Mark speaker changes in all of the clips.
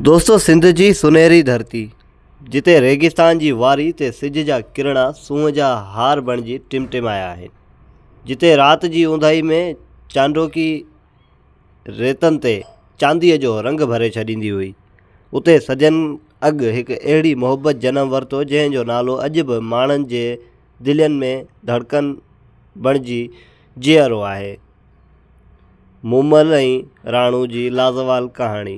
Speaker 1: دوستو سنڌ جي سونهري ڌرتي جتي ريگستان جي واري تي سج جا ڪرڻا سونهن جا هار بڻجي ٽمٽمايا آهن جتي رات جي اونداهي ۾ چانڊوڪي ريتن تي چانديء جو رنگ ڀري ڇڏيندي هئي اتي صدين اڳ هڪ اهڙي محبت جنم ورتو جنهن جو نالو اڄ به ماڻهن جي دلين ۾ ڌڙڪن بڻجي جيئرو آهي مومل ۽ راڻو جي لازوال ڪهاڻي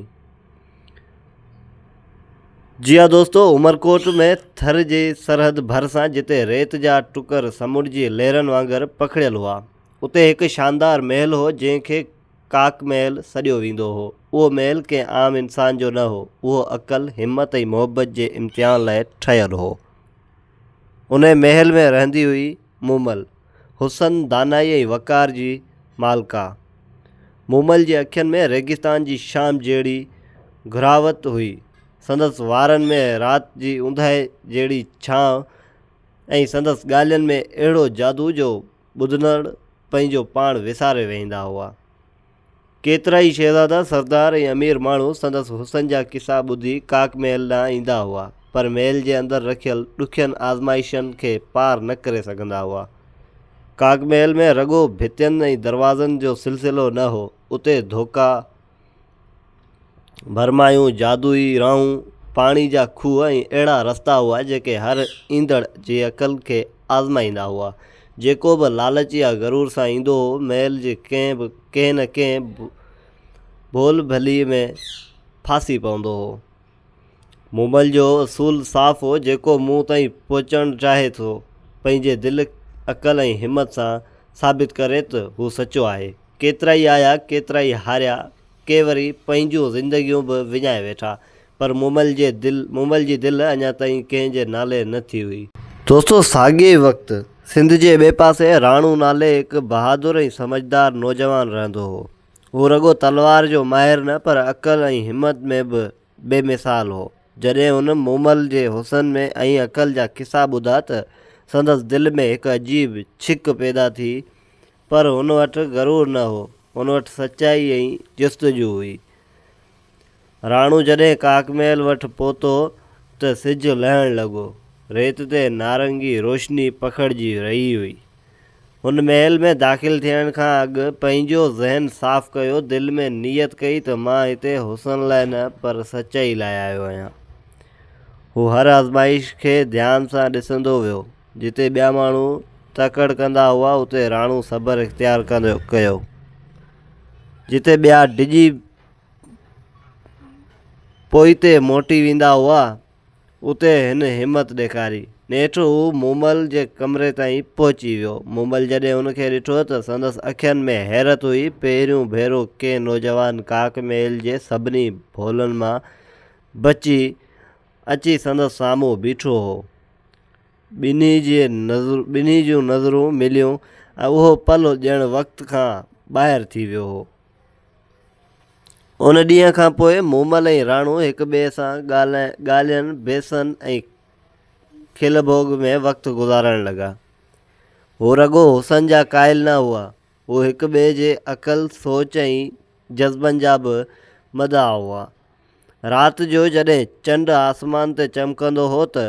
Speaker 1: جي ها دوستو عمرڪوٽ ۾ ٿر جي سرحد ڀرسان جتي ريت جا ٽڪر سمنڊ جي لهرن وانگر پکڙيل هئا اتي هڪ شاندار محل هو جنهن کي ڪاڪ محل سڏيو ويندو هو اهو محل ڪنهن عام انسان جو نه هو اهو عقل همت ۽ محبت جي امتحان لاء ٺهيل هو انهي محل ۾ رهندي هئي مومل حسن، دانائيء ۽ وقار جي مالڪا. مومل جي اکين ۾ ريگستان جي شام جهڙي گهراوت هئي. سندس وارن ۾ رات جي اونداهي جهڙي ڇانء ۽ سندس ڳالهين ۾ اهڙو جادو جو ٻڌندڙ پنهنجو پاڻ وساري ويهندا هئا. ڪيترائي شهزادا، سردار ۽ امير ماڻهو سندس حسن جا قصا ٻڌي ڪاڪ محل ڏانهن ايندا هئا، پر محل جي اندر رکيل ڏکين آزمائشن کي پار نه ڪري سگهندا هئا. ڪاڪ محل ۾ رڳو ڀتين ۽ دروازن جو سلسلو نه هو، اتي ڌوڪا، ڀرمايون، جادوئي راهون، پاڻي جا کوهه ۽ اهڙا رستا هئا جيڪي هر ايندڙ جي عقل کي آزمائيندا هئا. جيڪو به لالچ يا غرور سان ايندو هو، محل جي ڪنهن نه ڪنهن ڀول ڀلي ۾ ڦاسي پوندو هو. مون مل جو اصول صاف هو، جيڪو مون تائين پهچڻ چاهي سو پنهنجي دل، عقل ۽ همت سان ثابت ڪري ته هو سچو آهي. ڪيترائي آيا، ڪيترائي هاريا. ڪي وري پنهنجون زندگيون به وڃائي ويٺا. پر مومل جي دل مومل جي دل اڃا تائين ڪنهن جي نالي نه ٿي هئي. دوستو ساڳئي ئي وقت سنڌ جي ٻئي پاسي راڻو نالي هڪ بهادر ۽ سمجهدار نوجوان رهندو هو. هو رڳو تلوار جو ماهر نه پر عقل ۽ همت ۾ به بي مثال هو. جڏهن هن مومل جي حسن ۾ ۽ عقل جا قصا ٻڌا ته سندس دل ۾ هڪ عجيب ڇڪ پيدا ٿي پر هن وٽ غرور نه هو، هن وٽ سچائي ۽ جستجو هئي. راڻو جڏهن ڪاڪ محل وٽ پهتو ته سج لهڻ لڳو. ريت تي نارنگي روشني پکڙجي رهي هئي. هن محل ۾ داخل ٿيڻ کان اڳ پنهنجو ذهن صاف ڪيو، دل ۾ نيت ڪئي ته مان هتي حسن لاء نه پر سچائي لاء آيو آهيان. هو هر آزمائش کي ڌيان سان ڏسندو ويو. جتي ٻيا ماڻهو تڪڙ ڪندا هئا اتي راڻو صبر اختيار ڪندو ڪيو جتي ٻيا ڊڄي پوئتي موٽي ويندا هئا اتي هن همت ڏيکاري نيٺ هو مومل جي ڪمري تائين پهچي ويو مومل جڏهن هن کي ڏٺو ته سندس اکين ۾ حيرت هئي پهريون ڀيرو ڪنهن نوجوان ڪاڪ ميل جي سڀني ڀولن مان بچي اچي سندس سامهون بيٺو هو. ٻنهي جي ٻنهي جون نظرون مليون ۽ اهو پل ڄڻ وقت کان ٻاهر ٿي ويو هو. ان ڏينهن کان پوء مومل ۽ راڻو هڪ ٻئي سان ڳالهين بيسن ۽ کل ڀوڳ ۾ وقت گذارڻ لڳا. هو رڳو حسن جا قائل نه هئا. هو هڪ ٻئي جي عقل، سوچ ۽ جذبن جا به مداح هئا. رات جو جڏهن چنڊ آسمان تي چمڪندو هو ته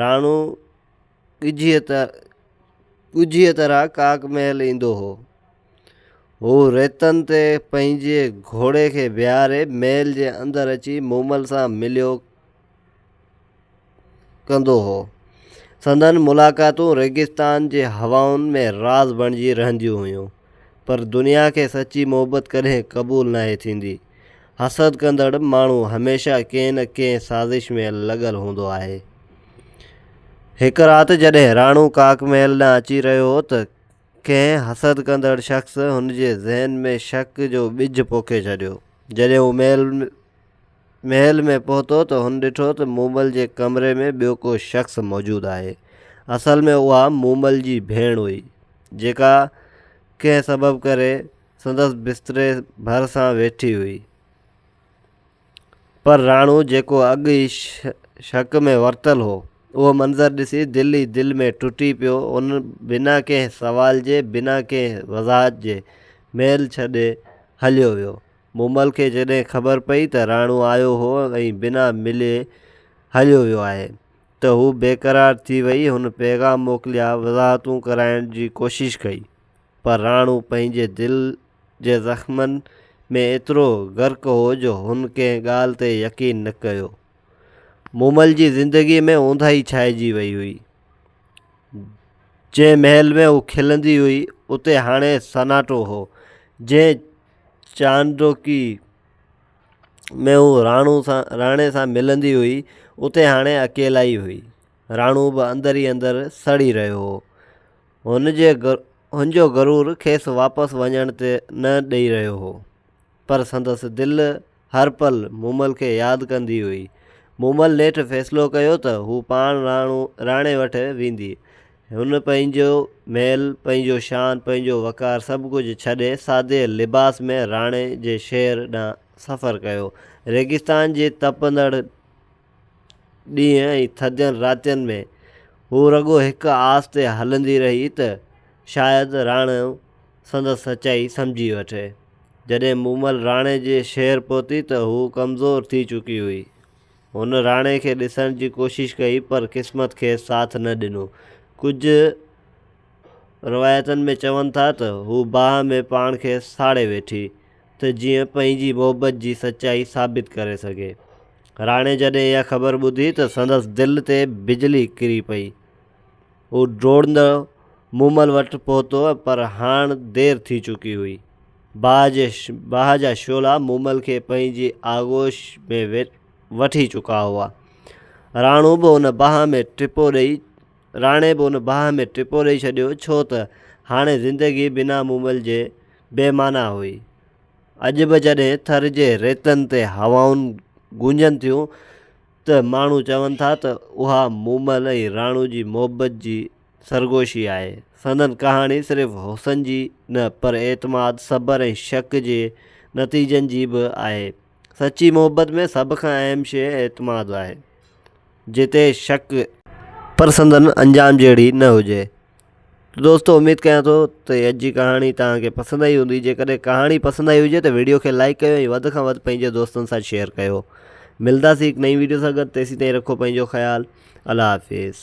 Speaker 1: راڻو ڳجهيء طرح ڪاڪ محل ايندو هو. هو ريتن تي پنهنجي گهوڙي کي بيهاري محل جي اندر اچي مومل سان مليو. ڪندو هو. سندن ملاقاتون ريگستان جي هوائن ۾ راز بڻجي رهنديون هيون. پر دنيا کي سچي محبت ڪڏهن قبول ناهي ٿيندي. حسد ڪندڙ ماڻهو هميشه ڪنهن نه ڪنهن سازش ۾ لڳل هوندو آهي. هڪ رات جڏهن راڻو ڪاڪ محل ڏانهن اچي رهيو هو ته ڪنهن حسد ڪندڙ شخص هن جي ذهن ۾ شڪ جو ٻج پوکي ڇڏيو. جڏهن هو محل محل ۾ پهتو ته هن ڏٺو ته مومل جي ڪمري ۾ ٻيو ڪو شخص موجود آهي. اصل ۾ اها مومل جي ڀيڻ هئي، جيڪا ڪنهن سبب ڪري سندس بستري ڀرسان ويٺي هئي. پر راڻو جيڪو اڳ ئي شڪ ۾ ورتل هو، اهو منظر ڏسي دل ئي دل ۾ ٽٽي پيو. هن بنا ڪنهن سوال جي، بنا ڪنهن وضاحت جي محل ڇڏي هليو ويو. مومل کي جڏهن خبر پئي ته راڻو آيو هو ۽ بنا ملي هليو ويو آهي ته هو بيقرار ٿي وئي. هن پيغام موڪليا، وضاحتون ڪرائڻ جي ڪوشش ڪئي، پر راڻو پنهنجي دل جي زخمن ۾ ايترو غرق هو جو هن ڪنهن ڳالهه تي يقين نه ڪيو. مومل جي زندگيء ۾ اونداهي ڇائجي وئي هئي. جنهن محل ۾ هو کلندي هئي، اتي هاڻي سناٽو هو، جنهن چانڊوڪي ۾ هوء راڻو سان راڻي سان ملندي هئي، اتي هاڻي اڪيلائي هئي. راڻو به اندر ئي اندر سڙي رهيو هو. هن جي هن جو غرور کيس واپس وڃڻ نه ڏئي رهيو هو، پر سندس دل هر پل مومل کي ياد ڪندي هئي. مومل نيٺ فيصلو ڪيو ته هو پاڻ راڻو راڻي وٽ ويندي. هن پنهنجو محل، پنهنجو شان، پنهنجو وقار سڀ ڪجهه ڇڏي سادي لباس ۾ راڻي جي شهر ڏانهن سفر ڪيو. ريگستان جي تپندڙ. ڏينهن ۽ ٿڌين راتين ۾ هو رڳو هڪ آس تي هلندي رهي ته شايد راڻو سندس سچائي سمجهي وٺي. جڏهن مومل راڻي جي شهر پهتي ته هوء ڪمزور ٿي چڪي هئي. هن راڻي کي ڏسڻ جي ڪوشش ڪئي پر قسمت کيس ساٿ نه ڏنو. ڪجهه روايتن ۾ چون ٿا ته هوء باهه ۾ پاڻ کي ساڙي ويٺي. ته جيئن پنهنجي محبت جي سچائي ثابت ڪري سگهي. راڻي جڏهن اها خبر ٻڌي ته سندس دل تي بجلي ڪري پئي. هو ڊوڙندو مومل وٽ پهتو پر هاڻ دير ٿي چڪي هئي. باهه جي باهه جا شعلا مومل کي پنهنجي آغوش ۾ وٺي چڪا هئا. راڻو به ان باهه ۾ ٽپو ڏئي راڻي به ان باهه ۾ ٽپو ڏئي ڇڏيو ڇو ته هاڻي زندگي بنا مومل جي بي معنيٰ هئي. اڄ به جڏهن ٿر جي ريتن تي هوائون گونجن ٿيون ته ماڻهو چون ٿا ته اها مومل ۽ راڻو جي محبت جي سرگوشي آهي. سندن ڪهاڻي صرف حسن جي نه پر اعتماد، صبر ۽ شڪ جي نتيجن جي به آهي. سچي محبت ۾ سڀ کان اهم شيء اعتماد آهي. جتي شڪ. پر سندن انجام جهڙي نه هجي. دوستو اميد ڪيان ٿو ته اڄ جي ڪهاڻي توهان کي پسند آئي هوندي جيڪڏهن ڪهاڻي پسند آئي هجي ته ويڊيو کي لائڪ ڪيو ۽ وڌ کان وڌ پنهنجي دوستن سان شيئر ڪيو ملنداسي هڪ نئين ويڊيو سان گڏ تيسين تائين رکو پنهنجو خيال الله حافظ